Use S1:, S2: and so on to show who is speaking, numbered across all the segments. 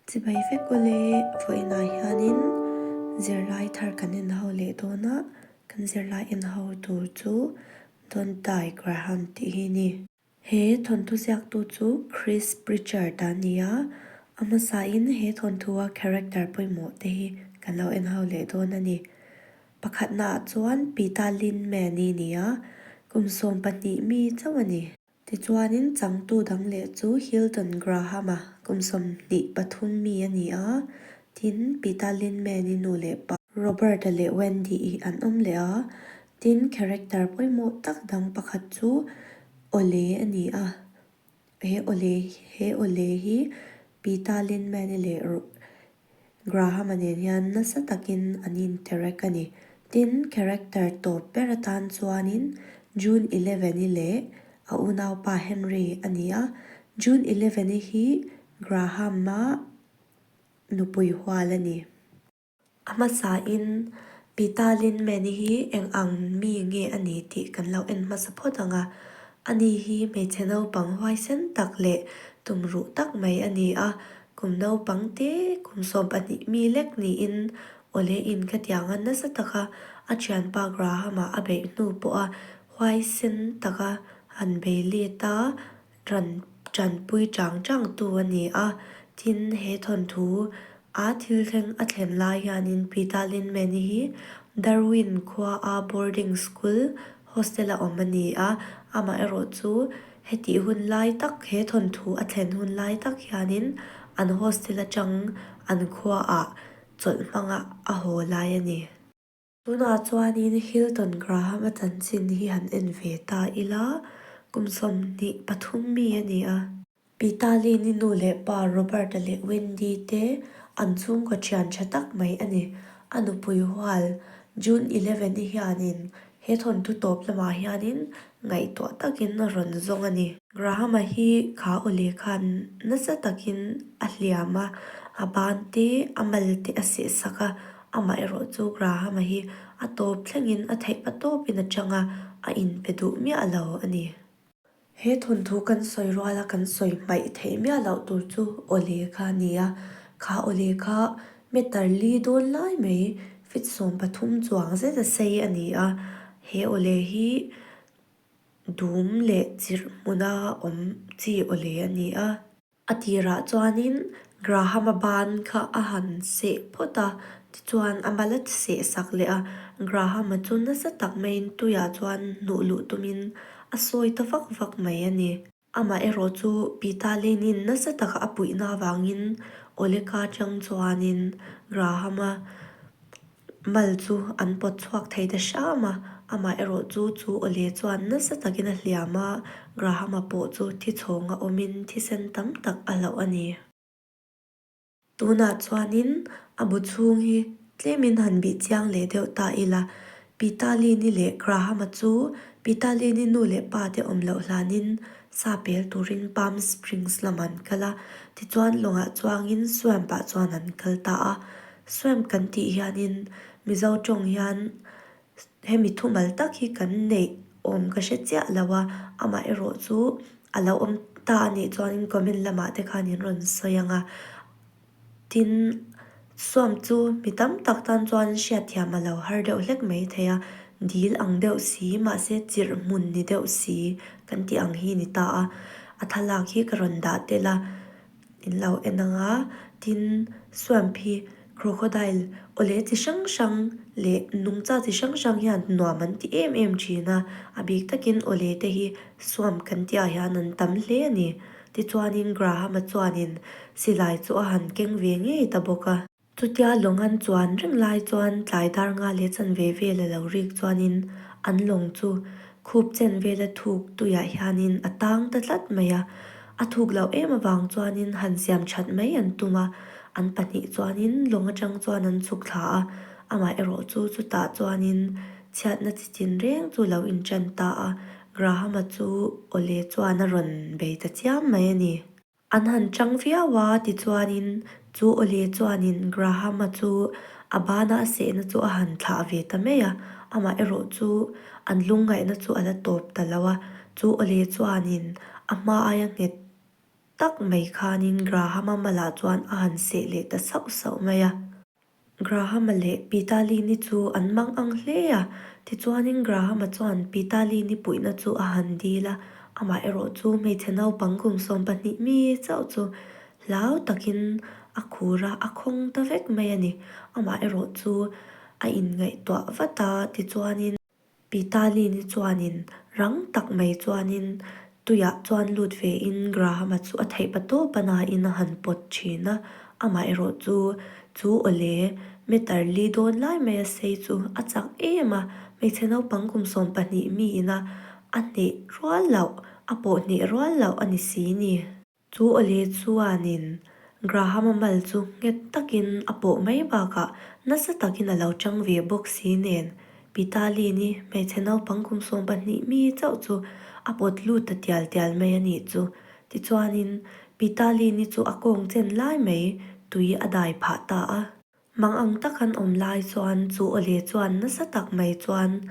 S1: Chibai vek u le, vawiinah hianin zirlai thar kan inhau leh dawn a, kan zirlai inhau tur chu Don't Die Graham tih hi ni. He thawnthu ziaktu chu Chris Pritchard a ni a, a hmasain he thawnthuaa character pawimawh te hi kan lo enhau leh dawn a ni. Pakhatnaah chuan Pita Lin Mani nia, kum sawm pahnih mi chauh a ni. Tichuanin changtu dang leh chu Hilton Graham a, kum sawmhnih pathum mi a ni a, tin, Peter Linman-i nu leh pa, Robert-a leh Wendy-i an awm leh a, tin, character pawimawh tak dang pakhat chu Ole a ni a, he Ole, he Ole hi Peter Linman-i leh Graham-a nen hian nasa takin an intirek a ni. Tin, character tawp ber atan chuanin June Eleven-i leh a unaupa Henry a ni a. June Eleven-i hi Graham-a nupui hual a ni. A hmasain, Peter Lindman-i hi eng ang mi nge a ni tih kan lo en hmasa phawt ang a. Ani hi hmeichhe naupang huaisen tak leh tumruh tak mai a ni a, Kum naupang te kum sawm pahnih mi lek niin awle in ka tiang a nasa taka a thianpa Graham a a beih hnu pawha huai sen taka han bei let a ran tanpui chang chang tu a ni a tin he thawnthu a thil thleng a thlen lai hianin Peter Linman hi Darwin khua a boarding school hostel a awm a ni a amah erawh chu Heti hun lai tak, he thawnthu a thlen hun lai tak hianin an hostel atang an khuaah chawlh hmanga a haw lai a ni. Tunah chuanin Hilton Graham-a chanchin hi han en ve ta ila, kum sawmhnih pathum mi a ni a. Pitalini nu leh pa Robert-a leh Wendy-te an chhungkaw thian tha tak mai a ni. A nupui hual, June eleven-i hianin He thawnthu tawp lamah hianin ngaihtuah takin a rawn zawng a ni. Graham-a hi kha aw leh khan nasa takin a hliam a, a ban te, a mal te a sehsak a. Amaherawh chu Graham-a hi a tawp thlengin a theih hma tawpin a chang a, a inpe duh miah lo a ni. He thawnthu kan sawi rual a, kan sawi hmaih theih miah loh tur chu awle kha a ni a, kha awle kha meter li dawn lai mai feet sawm pathum chuang zet a sei a ni a, he awle hi dum leh chirh hmuna awm chi awle a ni a. A tirah chuanin Graham-a ban kha a han seh phawt a, tichuan a mal a ti seh sak leh a. Graham-a chu nasa tak maiin tuiah chuan hnuh luh tumin a sawi ta vak vak mai a ni. Amaherawh chu Pita Lane-in nasa taka a puihna avangin Oleka-a chang chuanin Graham-a Mal chu an pawt chhuak thei ta hram a, amah erawh chu chu awle chuan nasa takin a hliam a, Graham-a pawh chu thi chhawngah awmin thisen tam tak a hlauh a ni. Tunah chuanin a bu chhung hi tlemin han bih chiang leh deuh ta ila, Peter Lee-ni leh Graham-a chu Peter Lee-ni nu leh pate awm loh hlanin sa pel turin Palm Springs lam an kal a, tichuan lawngah chuangin Swamp-ah chuan an kal ta a. Swam kan tih hianin Mizo tawng hian hemi thumal tak hi kan neih awm ka hre chiah lo a, amaherawh chu a lo awm ta a nih chuan in comment lamah te khan in rawn sawi ang a. Tin, Swam chu mi tam tak tan chuan hriatthiam a lo har deuh hlek mai thei a, dil ang deuh si, mahse chirhmun ni deuh si kan tih ang hi a ni ta a. A thlalak hi ka rawn dah tel a, In lo en ang a, tin swamp hi crocodile aw leh chi hrang hrang leh nungcha chi hrang hrang hian nuam an ti em em thin a, a bik takin aw leh te hi swamp kan tih ah hian an tam hle a ni. Tichuanin Graham-a chuanin silai chu a han keng ve ngei ta bawk a. Chutia lawng an chuan reng lai chuan tlai dar nga leh chan ve ve la lo rik chuanin an lawng chu khup chen vela thuk tuiah hianin a tang ta tlat mai a. A thuk loh em avang chuanin han siam that mai an tum a, an pahnih chuanin lawng atang chuan an chhuk thla a, amah erawh chu chutah chuanin chhiatna chi chinreng chu lo inṭan ta a, Graham-a chu awle chuan a rawn bei ta chiam mai a ni. An han chang viau a, tichuanin chu Ollie chuanin Graham-a chu a bana a sehna chu a han thlah ve ta mai a, amah erawh chu an lungngaihna chu a la tawp ta lo a. Chu Ollie chuanin a hma aia nghet tak mai khanin Graham-a mal ah chuan a han seh leh ta sauh sauh mai a. Grahama leh Pitalini chu an mang ang hle a, tichuanin Grahama chuan Pitalini puihna chu a han dil a, amaherawh chu hmeichhe naupang kum sawm pahnih mi chauh chu hlau takin a khur a, a khawng ta vek mai a ni. Amaherawh chu a inngaihtuah vat a, tichuanin. Pitalini chuanin rang tak mai chuanin tuiah chuan lut ve in Grahama chu a theih patawp a nain a han pawt thin a, amaherawh chu chu awle meter li dawn lai mai a sei chu a chak em a, hmeichhe naupang kum sawm pahnih miin a a hneh rual loh a pawh hneh rual loh a ni si ni. Chu Oli chuanin Grahama mal chu nghet takin a pawh mai bakah nasa takin a lo chang ve bawk si nen, Pitalini hmeichhe naupang kum sawm pahnih mi chauh chu a pawt lut ta tial tial mai a nih chu. Tichuanin Pitalini chu a kawng chen lai mai tui a dai phah ta a. Hmang ang tak an awm lai chuan chu Awle chuan nasa tak mai chuan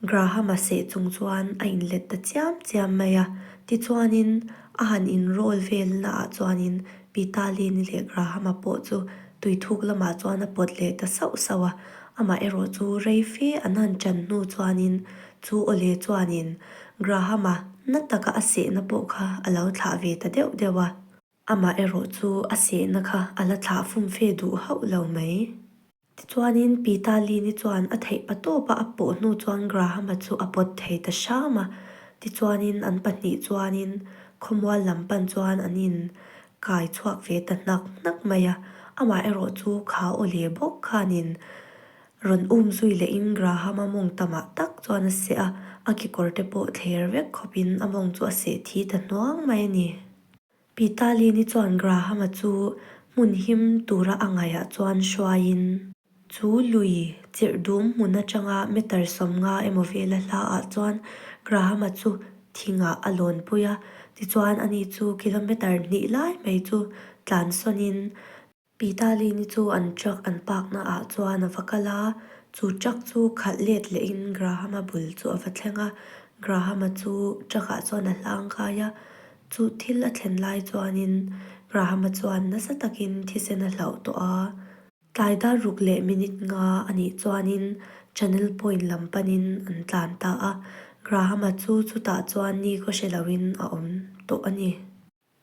S1: Graham a seh chung chuan a inlet ta chiam chiam mai a. Tichuanin a han inrawl vel naah chuanin Pitalini leh Grahama pawh chu tuithuk lamah chuan a pawt leh ta sauh sauh a. Amah erawh chu rei fe an han chan hnu chuanin chu Awle chuanin Grahama na taka a sehna pawh kha a lo thlah ve ta deuh deuh a. Amah erawh chu a sehna kha a la thlah fum fe duh hauh lo mai. Tichuanin Pi Ta Lin-i chuan a theih pa tawp a, a pawh hnu chuan Graham-a chu a pawt thei ta hram a. Tichuanin an pahnih chuanin khawmual lam pan chuan an in kai chhuak ve ta hnak hnak mai a. Amah erawh chu kha aw leh bawk khanin rawn um zui lehin Graham-a mawng tamah tak chuan a seh a, a kekawrte pawh thler vek khawpin a mawng chu a seh thi ta hnuang mai a ni. Pitalini chuan Grahama chu hmun him tura a ngaiha chuan hruaiin. Chu lui chirh dum hmun atanga meter sawmnga emaw vela hla ah chuan Grahama chu thingah a lawnpui a, tichuan ani chu kilometer hnih lai mai chu tlansawn in Pitalini chu an truck an park-na ah chuan a va kal a, chu truck chu khalh let leh in Graham-a bul chu a va thleng a, Graham-a chu truck ah chuan a hlang kai a, chu thil a thlen lai chuan in Graham-a chuan nasa tak in thisen a hlauh tawh a, tlai dar ruk leh minute nga a nih chuan in Channel Point lam pan in an tlan ta a, Graham-a chu chutah chuan ni ka hre lo in a awm tawh a ni.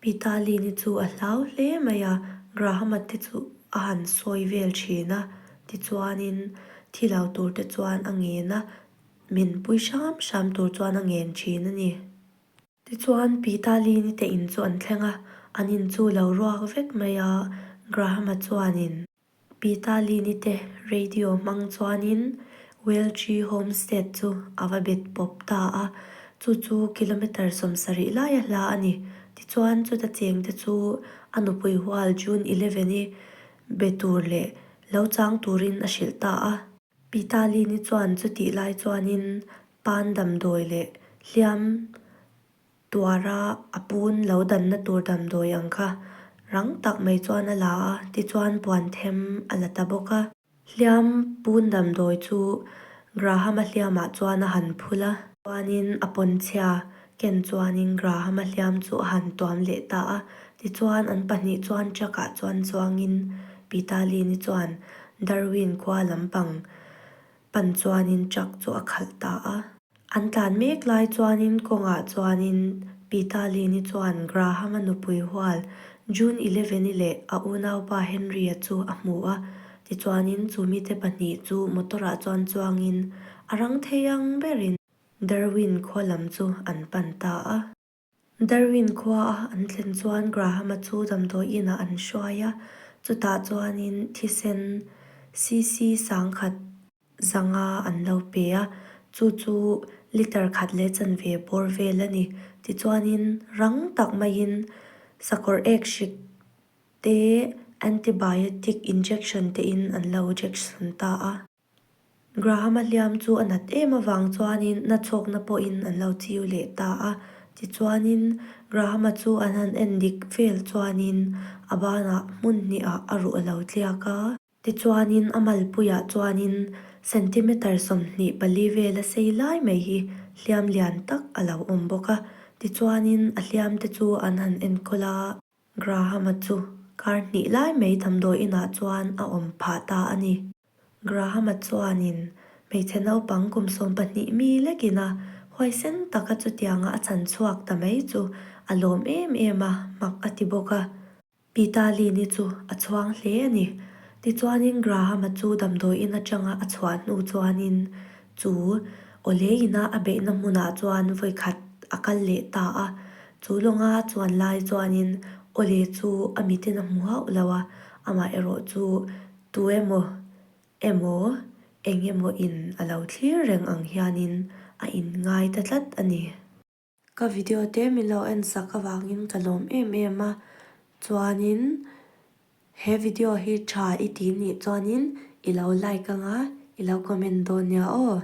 S1: Mitali ni chu a hlau hle mai a, Grahama te chu a han sawi vel thin a, tichuanin thi lo tur te chuan a ngen a, min pui hram hram tur chuan a ngen thin a ni. Tichuan Pitali ni te in chu an thleng a, an in chu lo ruak vek mai a, Grahama chuanin. Pita Lini te radio hmang chuanin Welchi Homestead chu a va bet pawp ta a, chu chu kilometre sawm sarih laia hla a ni. Tichuan chuta cheng te chu a nupui hual June eleven i be tur leh lo chang turin a hrilh ta a. Pita Lini chuan chutih lai chuanin pan damdawi leh hliam Tuara a pun lo danna tur damdawi ang kha rang tak mai chuan a la a, tichuan puan them a la ta bawk a. Hliam pun damdawi chu Graham-a hliamah chuan a han phul a. Chuanin a pawnchhia Ken chuanin Graham-a hliam chu a han tuam leh ta a, tichuan an pahnih chuan truck-ah chuan chuangin Pita Lee-ni chuan Darwin khua lampang pan chuanin truck chu a khalh ta a. An tlan mek lai chuanin kawngah chuanin Pita Lee-ni chuan Graham-a nupui hual June eleven-i leh a unaupa Henry-a chu a hmu a, tichuanin chu mite pahnih chu motor-ah chuan chuangin a rang thei ang berin Darwin khualam chu an pan ta a. Darwin khua a an thlen chuan Graham-a chu damdawi inah an hruai a, chutah chuanin thisen CC sang khat zanga an lo pe a, chu chu litre khat leh chanve bawr vel a ni. Tichuanin rang tak maiin sakawr ek hrik te, antibiotic injection tein an lo injection ta a. Graham a hliam chu a nat em avang chuanin na chhawkna pawhin an lo chiu leh ta a. Tichuanin, Graham-a chu an han en dik vel chuanin a bana hmun hniah a ruh a lo tliak a. Tichuanin a malpuiah chuanin centimetre sawmhnih pali vel a sei lai mai hi hliam lian tak a lo awm bawk a. Tichuanin a hliamte chu an han enkawl a. Graham-a chu kar hnih lai mai damdawi inah chuan a awm phah ta a ni. Graham-a chuanin hmeichhe naupang kum sawm pahnih mi lekin a huai sen tak a chutianga a chan chhuak ta mai chu a lawm em em a hmak a ti bawk a. Pitalini chu a chhuang hle a ni. Tichuanin Graham-a chu damdawi in atanga a chhuah hnu chuanin chu Oleina a beihna hmunah chuan vawikhat a kal leh ta a. Chu lawnga a chuan lai chuanin Ole chu a mitin a hmu hauh lo a, amah erawh chu Tu emaw, emaw, eng emaw in a lo thlir reng ang hianin a in ngai ta tlat a ni. Ka video te min lo en sak avangin ka lawm em em a, chuanin he video hi tha i ti nih chuanin i lo like anga i lo comment dawn nia aw.